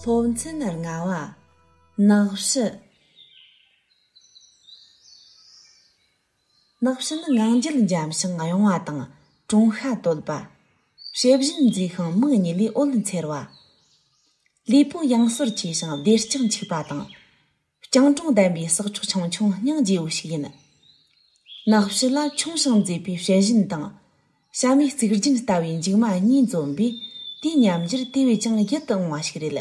སློབ་ཚན་ལྔ་བ། ནགས་བཞི། ནགས་བཞི་ནི་ངང་རྒྱུད་འཇམ་ཞིང་གཡང་བ་དང་ཀྲུང་ཤ་དོད་པ། ཕྱི་བཞིན་མཛེས་ཤིང་མིག་གཉིས་ལས་འོད་འཚེར་བ། ལུས་པོ་གཡང་ཟོར་ཆེ་ཞིང་བདེ་ལྕག་འཁྱུག་པ་དང། རྐྱང་གྲོང་ལྡན་པའི་ཟགས་ཕྱོགས་ཆང་ཆུང་སྙིང་རྗེ་བོ་ཞིག་ཡིན། ནགས་བཞི་ལ་ཁྱུང་ཞིང་མཛེས་པའི་བྱད་བཞིན་དང། བྱ་མའི་རྩིག་རྒྱུན་ལྟ་བུའི་མཇུག་མ་གཉིས་འཛོམས་པས་དེའི་ཉམས་འགྱུར་དེ་བས་ཀྱང་ཡིད་དུ་འོང་བ་ཞིག་རེད།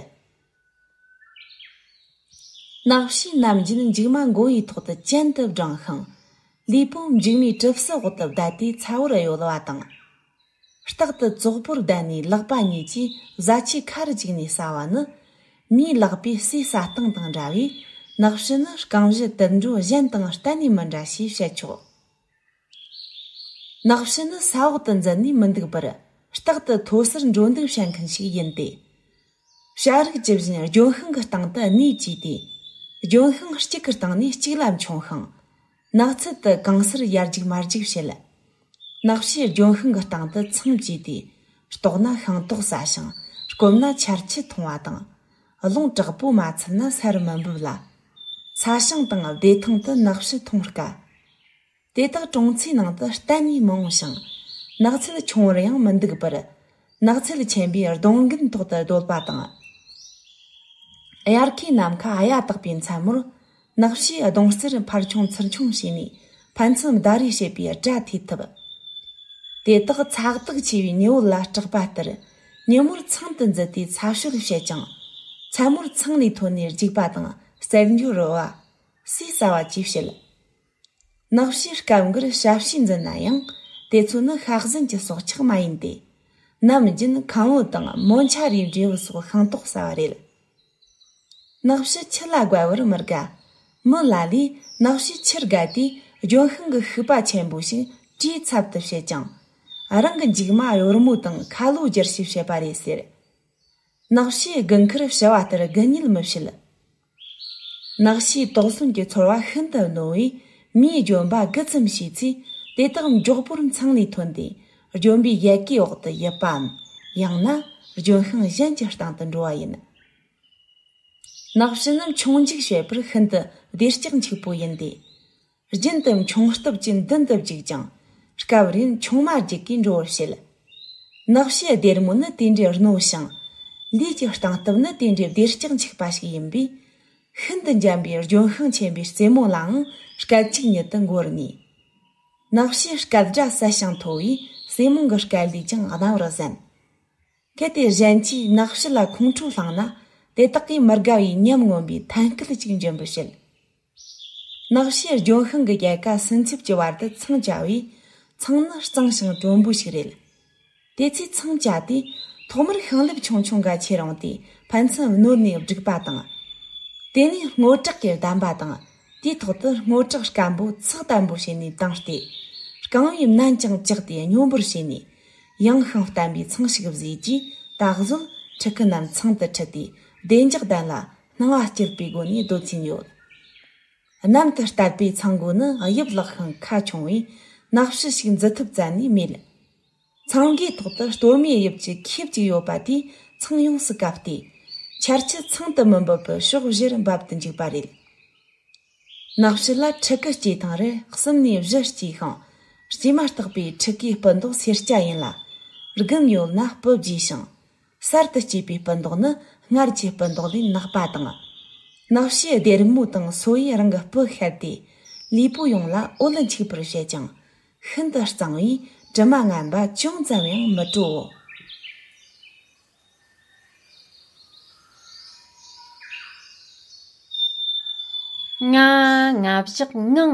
ནགས་བཞི་ནམ་རྒྱུན་མཇུག་མ་མགོ་བོའི་ཐོག་ཏུ་ཅན་དུ་བསྒྲེངས་ཤིང། ལུས་པོ་མཇུག་མའི་གྲིབ་བསིལ་འོག་ཏུ་བསྡད་དེ་ཚ་བོར་གཡོ་བ་དང། རྟག་ཏུ་ཙོག་པུར་བསྡད་ནས་ལག་པ་གཉིས་ཀྱིས་བཟའ་ཆའི་ཁར་འཇུག་ནས་ཟ་བ་ནི། མིའི་ལག་པའི་ཟས་ཟ་སྟངས་དང་འདྲ་བས་ནགས་བྱི་ནི་རྐང་བཞི་དུད་འགྲོ་གཞན་དང་གཏན་ནས་མི་འདྲ་ཞེས་བཤད་ཆོག། ནགས་བྱི་ནི་ས་འོག་ཏུ་འཛུལ་ནས་མི་འདུག་པར་རྟག་ཏུ་མཐོ་སར་འགྲོ་འདུག་བྱེད་མཁན་ཞིག་ཡིན་ཏེ། བྱ་རིགས་ཇི་བཞིན་ལྗོན་ཤིང་གི་སྟེང་དུ་གནས་བཅས་ཏེ། ལྗོན་ཤིང་གཅིག་གི་སྟེང་ནས་གཅིག་ལ་མཆོང་ཤིང། ནགས་ཚལ་དུ་གང་སར་ཡར་རྒྱུག་མར་རྒྱུག་བྱེད། ནགས་བྱའི་ལྗོན་ཤིང་གི་སྟེང་དུ་མཚམས་བཅད་དེ། ལྟོགས་ན་ཤིང་ཏོག་ཟ་ཞིང་སྐོམ་ན་ཆར་ཆུ་འཐུང་བ་དང། རླུང་དྲག་པོ་མ་འཚུབ་ན་ས་རུ་མི་འབུད་ལ། ས་ཞིང་དང་བདེ་ཐང་དུ་ནགས་བྱི་འཐུང་དཀའ། དེ་དག་གྲོང་ཚོའི་ནང་དུ་གཏན་ནས་མི་འོང་ཞིང། ནགས་ཚལ་ཆུང་བར་ཡང་མི་འདུག་པར། ནགས་ཚལ་ཆེན་པོའི་གདོང་རྒྱུན་ཐོག་ཏུ་བརྡོལ་བ་དང། དབྱར་ཁའི་ནམ་མཁའ་གཡའ་དག་པའི་མཚན་མོར། ནགས་བྱའི་གདོང་རྩེར་ཕར་ཆུང་ཚུར་ཆུང་བྱས་ནས་ཕན་ཚུན་ཟླ་རེས་བྱེད་པའི་སྐྲ་ཐེད་ཐུབ། དེ་དག་ཚགས་རྡུགས་ཆེ་བའི་ཉི་འོད་ལ་སྐྲག་པ་ལྟར། ཉིན་མོར་ཚང་དུ་འཛུལ་ཏེ་ཚ་ཤོད་བྱེད་ཅིང། མཚན་མོར་ཚང་ལས་ཐོན་ནས་རྒྱུག་པ་དང་གསེར་འགྱུར་རོལ་བ། ཟས་ཟ་བ་བཅས་བྱེད། ནགས་བཤེར་སྐབས་འགར་ཞབས་ཕྱི་འཛིན་ན་ཡང་དེ་ཚོ་ནི་ཤ་ཟན་གྱི་སྲོག་ཆགས་མ་ཡིན་ཏེ། ནམ་རྒྱུན་ཁམ་བུ་དང་མོ་མཆའ་རིའི་འབྲས་བུ་སོགས་ཤིང་ཏོག་ཟ་བ་རེད། ནགས་བཤེར་ཁྱི་ལ་དགའ་བར་མི་དགའ། མི་ལ་ལས་ནགས་བཤེར་ཁྱིར་དགའ་དེས་ལྗོན་ཤིང་གི་ཤུག་པ་ཆེན་པོ་ཞིག་གྲིའི་ཚབ་ཏུ་བྱེད་ཅིང། རང་གི་མཇུག་མ་གཡོར་མོ་དང་ཁ་ལོ་སྒྱུར་ཞིག་བྱེད་པ་རེད་ཟེར། ནགས་བཤེར་དགུན་ཁར་བྱི་བ་ལྟར་དགུན་ཉུལ་མི་བྱེད། ནགས་ཤེས་དོགས་ཟོན་གྱི་ཚོར་བ་ཤིན་ཏུ་རྣོ་བས་མིའི་ལྗོན་པ་རྒུད་ཙམ་བྱས་ཚེ་དེ་དག་མགྱོགས་པོར་མཚང་ལས་ཐོན་ཏེ་ལྗོན་པའི་ཡལ་གའི་འོག་ཏུ་ཡིབ་པའམ་ཡང་ན་ལྗོན་ཤིང་གཞན་གྱི་སྟེང་དུ་འགྲོ་བ་ཡིན། ནགས་ཕྱི་ནུབ་མཆོང་འཇུག་བྱེད་པར་ཤིན་ཏུ་བདེ་སྐྱིད་འཁྱུག་པོ་ཡིན་ཏེ། རྒྱུན་དུ་མཆོང་སྟོབས་ཀྱིས་མདུན་དུ་བརྒྱུགས་ཀྱང། སྐབས་རེར་མཆོང་མ་བརྒྱུགས་ཀྱིས་འགྲོ་བར་བྱེད། ནགས་ཕྱི་སྡེར་མོ་ནི་དེ་འདྲའི་རྣོ་ཞིང། ལུས་ཀྱི་སྟངས་སྟབས་ནི་དེ་འདྲའི་བདེར་བཀྱག་འཇིགས་པ་ཞིག་ཡིན་པས། ཤིན་ཏུ་འཇམ་པའི་ལྗོན་ཤིང་ཆེན་པོའི་རྩེ་མོ་ལའང་སྐད་གཅིག་ཉིད་དུ་འགོར་ངེས། ནགས་ཕྱི་སྐད་སྒྲ་གསལ་ཞིང་མཐོ་བས་སྲེ་མོང་གི་སྐད་ལས་ཀྱང་སྣང་བར་གསན། གལ་ཏེ་གཞན་གྱིས་ནགས་ཕྱི་ལ་ཁོང་ཁྲོ་བསླངས་ན་དེ་དག་གིས་མི་དགའ་བའི་ཉམས་མངོན་པའི་ཐན་སྐད་ཅིག་འབྱིན་པར་བྱེད། ནགས་ཤེལ་ལྗོན་ཤིང་གི་རྒྱལ་ཁ་སུན་འཚེབ་ཀྱི་བར་དུ་ཚང་བཅའ་བས། ཚང་ནི་གཙང་ཞིང་དྲོན་པོ་ཞིག་རེད། དེ་ཚོས་ཚང་བཅའ་དུས་ཐོག་མར་ཤིང་ལེབ་ཆུང་ཆུང་འགའ་ཕྱེ་རུང་དེ་ཕན་ཚུན་བསྣོལ་ནས་བསྒྲིགས་པ་དང། དེ་ནས་སྔོ་དྲགས་ཀྱིས་བསྡམས་པ་དང་དེའི་ཐོག་ཏུ་སྔོ་དྲགས་སྐམ་པོ་ཚགས་དམ་པོ་བྱས་ནས་དྭངས་ཏེ། རྐང་བའི་མནན་ཀྱང་བཅག་སྟེ་སྙོམས་པོར་བྱས་ནས། ཡངས་ཤིང་བརྟན་པའི་ཚང་ཞིག་བཟོས་རྗེས་ད་གཟོད་ཕྲུ་གུ་རྣམས་ཚང་དུ་ཁྲིད་དེ་བདེ་འཇགས་ལྡན་ལ་སྣང་བ་སྐྱེད་པའི་སྒོ་ནས་བཟློས་ཚིག་ཡོད། གནམ་དུ་བཏགས་པའི་ཚངས་སྒོ་ནི་དབྱིབས་ལག་ཤིང་ཁ་ཆུང་བས་སྣག་བཞི་ཞིག་འཛུལ་ཐུབ་རྩལ་ནས་མེད། ཚངས་སྒོའི་ཐོག་ཏུ་གཏོར་མའི་དབྱིབས་ཀྱི་ཁེབས་གཅིག་ཡོད་པ་དེས་ཚངས་ཡོངས་སུ་གབ་སྟེ། ཆར་ཆུ་ཚང་དུ་མི་འབབ་པར་ཕྱོགས་བཞིར་འབབ་ཏུ་འཇུག་པ་རེད། སྣག་བཞི་ལ་ཕྲུ་གུ་སྐྱེས་ཐེངས་རེར་གསུམ་ནས་བཞི་སྐྱེས་ཤིང། སྐྱེས་མ་ཐག་པའི་ཕྲུ་གུའི་སྤུ་མདོག་སེར་སྐྱ་ཡིན་ལ། རྒུན་ཡོད་ན་སྤུ་རྒྱས་ཤིང། གསར་དུ་སྐྱེས་པའི་སྤུ་མདོག་ནི་སྔར་གྱི་སྤུ་མདོག་ལས་ནག་པ་དང། ནག་ཕྱིའི་སྡེར་རྨོ་དང་སོ་ཡིས་རང་གི་སྤུ་ཤར་ཏེ། ལུས་པོ་ཡོངས་ལ་འོད་འཁྱུག་པར་བྱེད་ཅིང། ཤིན་ཏུ་གཙང་བས་དྲི་མ་རྔམ་པ་ཅུང་ཙམ་ཡང་མི་སྤྲོའོ། ལྔ། རྔ་བཞག་ངང།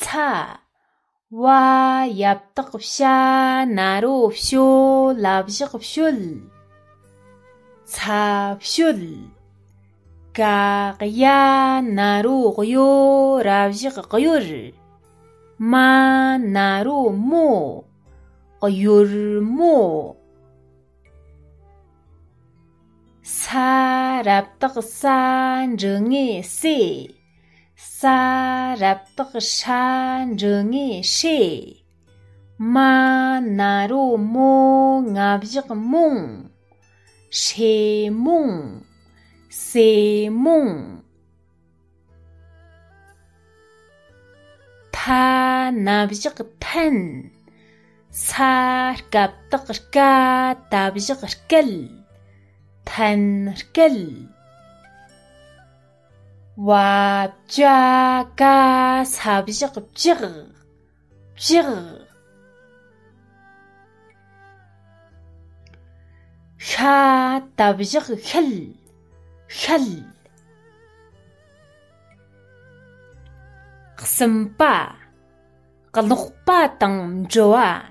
ཚ། བ། ཡབ་སྟག་བྱ་ན་རོ་བྱོ་ལ་བཞག་བྱོལ། ཚ་བྱོལ། ཀ། གཡའ་ན་རོ་གཡོ་ར་བཞག་གཡོར། མ། ན་རོ་མོ་གཡོར་མོ། ས། རབ་སྟག་ས་འབྲི་ངས་སྲས། ས་རབ་དག་ཧྲ་འབྲུ་ངེ་ཧྲེ། མ་ན་རོ་མོ་ང་བཞག་མོང། ཧྲེ་མོང། སེ་མོང། ཐ་ན་བཞག་ཐན། ས་སྐབས་དག་སྐ་ད་བཞག་སྐལ། ཐན་སྐལ། བ་ཅའ་ཀ་ས་བཞག་བཅག་བཅག། ཤ་ད་བཞག་ཤལ་ཤལ། གསུམ་པ་ཀློག་པ་དང་འབྲི་བ།